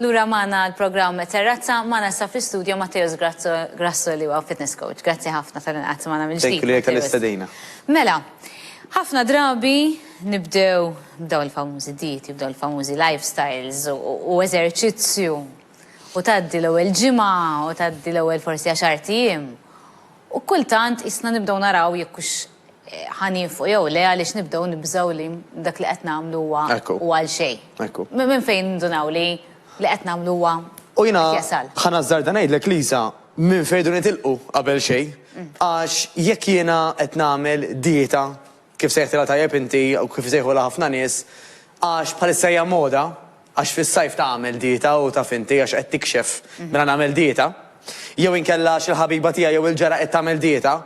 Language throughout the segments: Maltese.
Lura maħna l-programm Terrazza, maħna sa fl-studio Matteos Grasso li huwa fitness coach. Grazzi ħafna tal-inqat maħna mill-ġdid. Thank you li għal-istadina. Mela, ħafna drabi Nibdew b'dawn il-famużi dieti, b'dawn il-famużi lifestyles u eżerċizzju u tgħaddi l-ewwel ġimgħa u tgħaddi l-ewwel forsi għaxart ijiem u kultant qisna nibdew naraw jekk hux ħa niefqu jew le għaliex nibdew nibżgħu li dak li qed nagħmlu huwa huwa għal xejn. Minn fejn nindunaw li li qed nagħmlu huwa qed jasal? U jiena ħa nażżarda ngħidlek Lisa, minn fejn irdu nitilqu qabel xejn għax jekk jiena qed nagħmel dieta kif sejħtilha tajjeb inti u kif isejħulha ħafna nies, għax bħalissa hija moda, għax fis-sajf tagħmel dieta u taf inti għax qed tikxef mela nagħmel dieta, jew inkella għax il-ħabiba tiegħi jew il-ġara qed tagħmel dieta,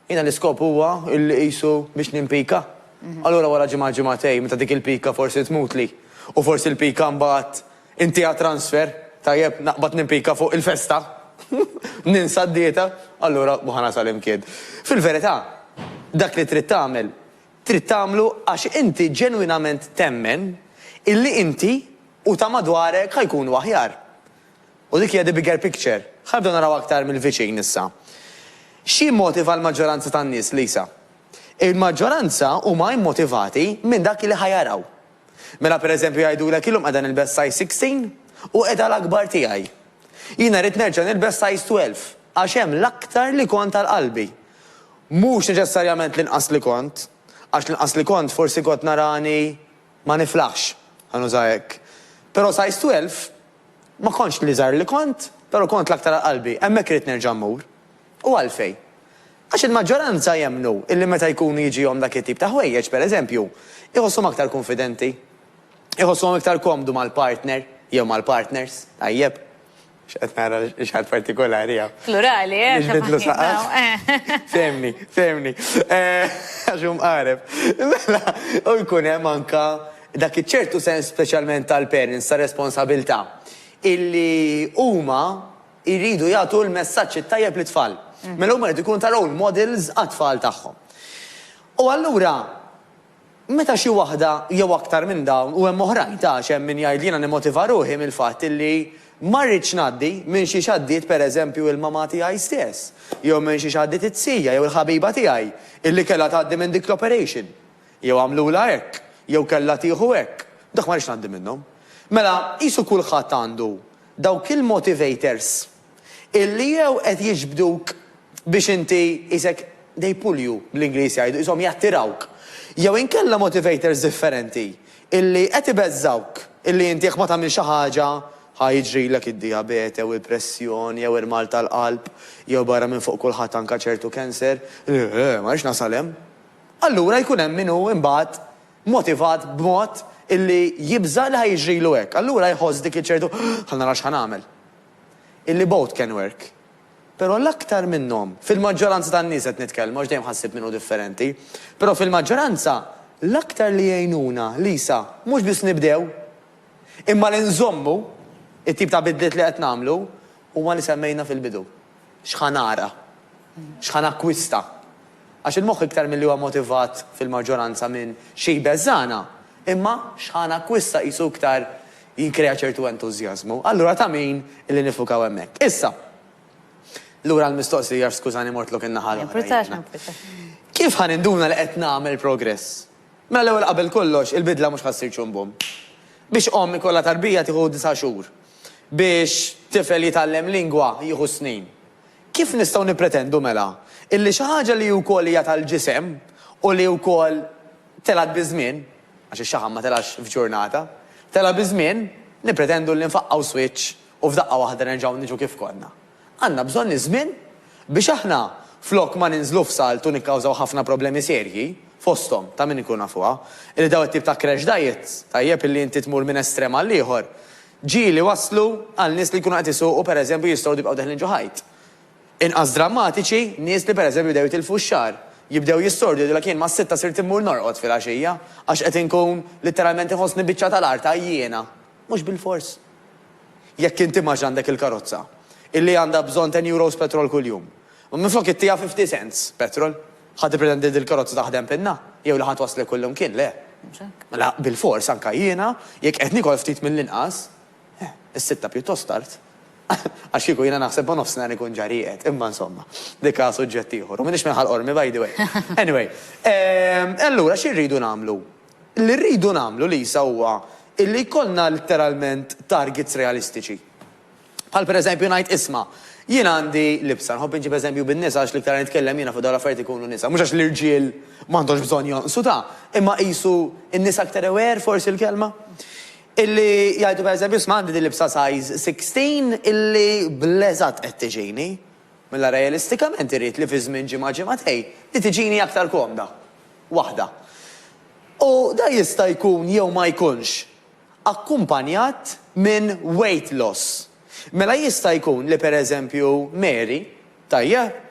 jiena l-iskop huwa li qisu biex nimpika. Allura wara ġimgħa ġimgħatejn meta dik il-pika forsi tmutli u forsi l-pika mbagħad Inti għad transfer? Tajjeb, naqbad nimpika fuq il-festa? Ninsa d-dieta? Allura mhu ħa nasal imkien. Fil-verità, dak li trid tagħmel, trid tagħmlu għax inti ġenwinament temmen illi inti u ta' madwarek ħa jkunu aħjar. U dik hija the bigger picture. Ħa nibdew naraw aktar mill-viċin issa. X'jimmotiva l-maġġoranza tan-nies, Lisa? Il-maġġoranza huma immotivati minn dak li ħa jaraw. Mela pereżempju jgħidulek illum qiegħda nilbes size 16 u qiegħda l-akbar tiegħi. Jiena rrid nerġa' nilbes size 12 għax hemm l-aktar li kont għal qalbi. Mhux neċessarjament l-inqas li kont, għax l-inqas li kont forsi kont narani ma niflaħx, ħa nuża hekk. Però size 12 ma kontx l-iżgħar li kont, però kont l-aktar għal qalbi. Hemmhekk irrid nerġa' mmur. U għalfejn? Għax il-maġġoranza jemmnu illi meta jkunu jiġihom dak it-tip ta' ħwejjeġ, pereżempju, iħosshom aktar kunfidenti. Iħossuhom iktar komdu mal-partner, jew mal-partners, tajjeb. X'qed nara x'ħadd partikolari hawn. Plurali, eh? Biex bidlu saqaf. Fehmni, fehmni. Għax hu mqareb. Mela, u jkun hemm anke dak iċ-ċertu sens speċjalment tal-parents ta' responsabilità illi huma, Iridu jagħtu l-messaġġ it-tajjeb lit-tfal. Mela huma jridu jkunu ta' role models għat-tfal tagħhom. U allura meta xi waħda jew aktar minn dawn, u hemm oħrajn ta' għax hemm min jgħid li jiena nimmotiva ruħi mill-fatt illi ma rridx ngħaddi minn xiex għaddiet per eżempju il-mamà tiegħi stess, jew minn xiex għaddiet it-tija jew il-ħabiba tiegħi illi kellha tgħaddi minn dik l-operation, jew għamlulha hekk, jew kellha tieħu hekk, dak ma rridx ngħaddi minnhom. Mela qisu kulħadd għandu Dawk il-motivators illi jew qed jiġbduk biex inti qisek they pull you bl-Ingliż jgħidu, qishom jattirawk, jew inkella motivators differenti illi qed ibeżżgħuk illi inti jekk ma tagħmilx xi ħaġa ħa jiġrilek id-dijabete jew il-pressjoni jew irmal tal-qalb jew barra minn fuq kulħadd anke ċertu cancer, li, eh, ma rridx nasal hemm. Allura jkun hemm min hu imbagħad motivat b'mod illi jibża' li ħa jiġrilu hekk. Allura jħoss dik iċ-ċertu ħa nara x'ħa nagħmel. Illi both can work. Però l-aktar minnhom, fil-maġġoranza tan-nies qed nitkellmu għax dejjem ħassib min hu differenti, però fil-maġġoranza l-aktar li jgħinuna, Lisa, mhux biss nibdew, imma li nżommu t-tip ta' bidliet li qed nagħmlu huma li semmejna fil-bidu. X'ħa nara? X'ħa nakkwista? Għax il-moħħ iktar milli huwa motivat fil-maġġoranza minn xi jbeżżagħna, imma x'ħa nakkwista qisu iktar jikkrea ċertu entużjażmu. Allura ta' min li nifukaw hemmhekk. Issa, lura għall-mistoqsija għax skużani mortlok in-naħa l-oħra jiena. Kif ħa ninduna li qed nagħmel progress? Mela l-ewwel qabel kollox, il-bidla mhux ħa ssir ċumbum. Biex omm ikollha tarbija tieħu disa' xhur. biex tifel jitgħallem lingwa jieħu snin. Kif nistgħu nippretendu mela illi xi ħaġa li wkoll hija tal-ġisem u li wkoll telgħet biż-żmien, għax ix-xaħam ma telgħax f'ġurnata, telgħa biż-żmien, nippretendu li nfaqqgħu swiċċ u f'daqqa waħda nerġgħu niġu kif konna? Għandna bżonn iż-żmien biex aħna flok ma ninżlu f'salt u nikkawżaw ħafna problemi serji, fosthom, ta' min inkunu nafuha, li dawn it-tip ta' crash diets, tajjeb illi inti tmur minn estrem għal ieħor, ġieli waslu għal nies li jkunu qed isuqu pereżempju jistgħu jibqgħu deħlin ġo ħajt. Inqas drammatiċi, nies li pereżempju bdew jitilfu x-xagħar, jibdew jissordu jgħidulek jien mas-sitta sirt immur norqod filgħaxija għax qed inkun litteralment iħossni biċċa tal-art għajjiena. Mhux bilfors. jekk inti max għandek il-karozza, illi għandha bżonn ten euros petrol kuljum. Ma minflok ittiha fifty cents petrol, ħa tippretendi li dil-karozza taħdem pinna? Jew li ħa twasslek kullimkien? Le. Mhux hekk. Mela, bilfors anke jiena, jekk qed niekol ftit mill-inqas, eh, is-sitta pjuttost tard. Għax kieku jiena naħseb ma nofsinhar ikun ġa rieqed, imma insomma, dik ha suġġett ieħor. U m'iniex minn Ħal Qormi by the way. Anyway, ehm, allura xi rridu nagħmlu? Li rridu nagħmlu, Lisa, huwa illi jkollna litteralment targets realistiċi. Bħal pereżempju ngħid, isma', jien għandi libsa, nħobb inġib eżempju bin-nisa għax l-iktar li nitkellem jiena fuq dawn l-affarijiet ikunu nisa, mhux għax l-irġiel m'għandhomx bżonn jonqsu ta', imma qisu n-nisa aktar aware forsi l-kelma? Illi jgħidu pereżempju, isma' għandi din libsa size 16 illi bl-eżatt qed tiġini. Mela realistikament irrid li fi żmien ġimgħa ġimgħatejn li tiġini aktar komda. Waħda. U dan jista' jkun jew ma jkunx akkumpanjat minn weight loss. Mela jista' jkun li pereżempju Mary, tajjeb?